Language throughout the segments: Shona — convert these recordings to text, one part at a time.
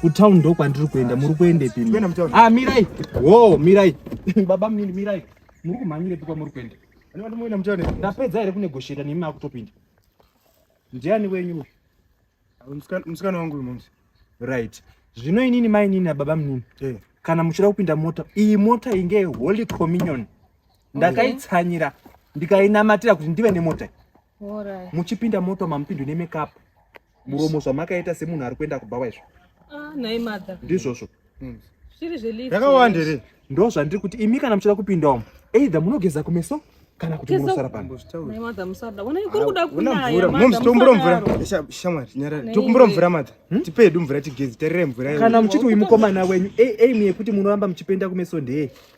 kutown ndo kwandiri kuenda muri kuendepi ah mirai wo mirai baba mnini mirai muri kumhanyirepi kwamuri kuenda ndapedza here kunegosheta nemi makutopinda ndiani wenyu musikana wangu uyu momsi right zvino inini mainini ababa mnini eh. kana muchida kupinda mota iyi mota inge holy communion ndakaitsanyira ndikainamatira kuti ndive nemota muchipinda mota mamupindo nemekapu muromo zvamakaita semunhu ari kuenda kubhawa izvo ah, nhai mother ndizvozvo hmm. zviri zvelift yakawanda here ndo zvandiri kuti imi kana muchida kupinda umu either munogeza kumeso kana kuti munosara pano tokumbura mvura shamwari nyarara tokumbura mvura mata hmm? tipe hedu mvura tigezi tarirai mvura kana muchiti uyu mukomana wenyu aim yekuti munoramba muchipenda kumeso ndeye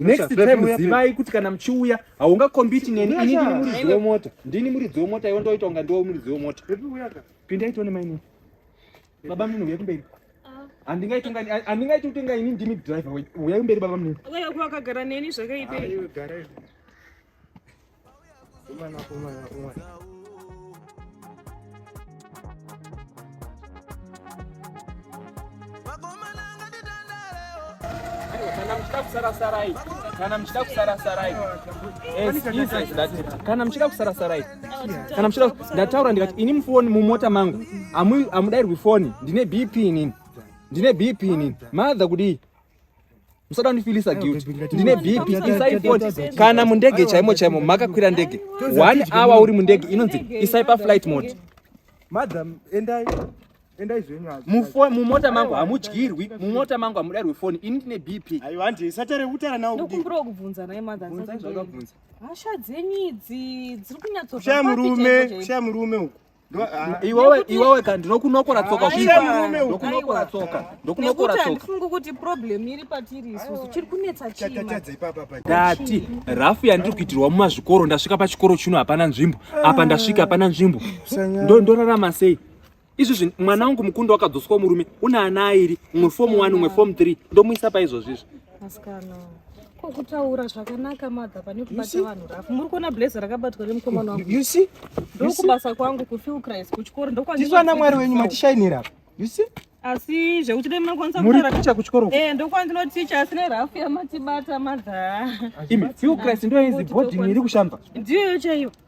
Next time zivai kuti kana mchiuya haunga compete neni ini ndini muridzi wemota. Ndini muridzi wemota iwe ndoita kunga ndiwe muridzi wemota. Pinda itone maini. Baba mimi uya kumberi. Andingaiti unga andingaiti utenga ini ndimi driver. Uya kumberi baba mimi. Uya kuwakagara neni zvakaipa. Gara. Kumana, kumana, kumana. kusarasarai kana muchida kusarasarai kana muchida kusarasarai kana muchida ndataura ndikati ini mufoni mumota mangu amudairwi foni ndine bp inini ndine bp inini madha kudii musada kundifilisa guilty ndine bp isai foni kana mundege chaimo chaimo makakwira ndege one hour uri mundege inonzi isai paflight mode madam endai endai zvenyu mufo mumota mangu hamudyirwi mumota mangu hamudairwi foni ini ndine bp aiwa nje isatare utara nawo ndokumbira kubvunza naye mother hasha dzenyu idzi dziri kunyatsoshaya murume shaya murume uku Ah, iwewe iwewe ka ndinokunokora tsoka ah, zvinokunokora tsoka ndokunokora tsoka ndifunga kuti problem iri patiri isusu chiri kunetsa chidati rafu yandiri kuitirwa mumazvikoro ndasvika pachikoro chino hapana nzvimbo apa ndasvika hapana nzvimbo ndorarama sei izvizvi mwana wangu mukundo wakadzoswa murume une ana airi umwe fomu one umwe fomu three ndomuisa paizvozvizvi Ko kutaura zvakanaka mother pane kubata vanhu rafu. Muri kuona blazer rakabatwa nemukomana wangu. You see? Ndokubasa kwangu ku feel Christ kuchikoro ndokwa. Tizwa na mwari wenyu matishainira. You see? asi zvekuti dai munokwanisa muri ticha kuchikoro eh ndokwa ndinoticha asi nerafu yamatibata madha imi few christ ndo izi body iri kushamba ndiyo chaiyo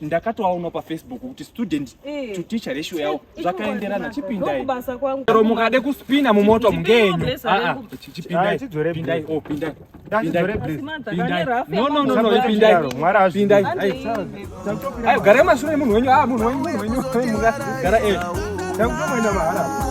ndakatoaona pafacebook kuti student eh. to teacher ratio yawo zvakaenderana chipindai chero mukade kuspina mumoto mungenyu ah, ah, chipindai pindai o oh, pindai ayo gara emashure munhu wenyu a ah, munhu wenyu munhu wenyu mungagara e takutomoenda mahara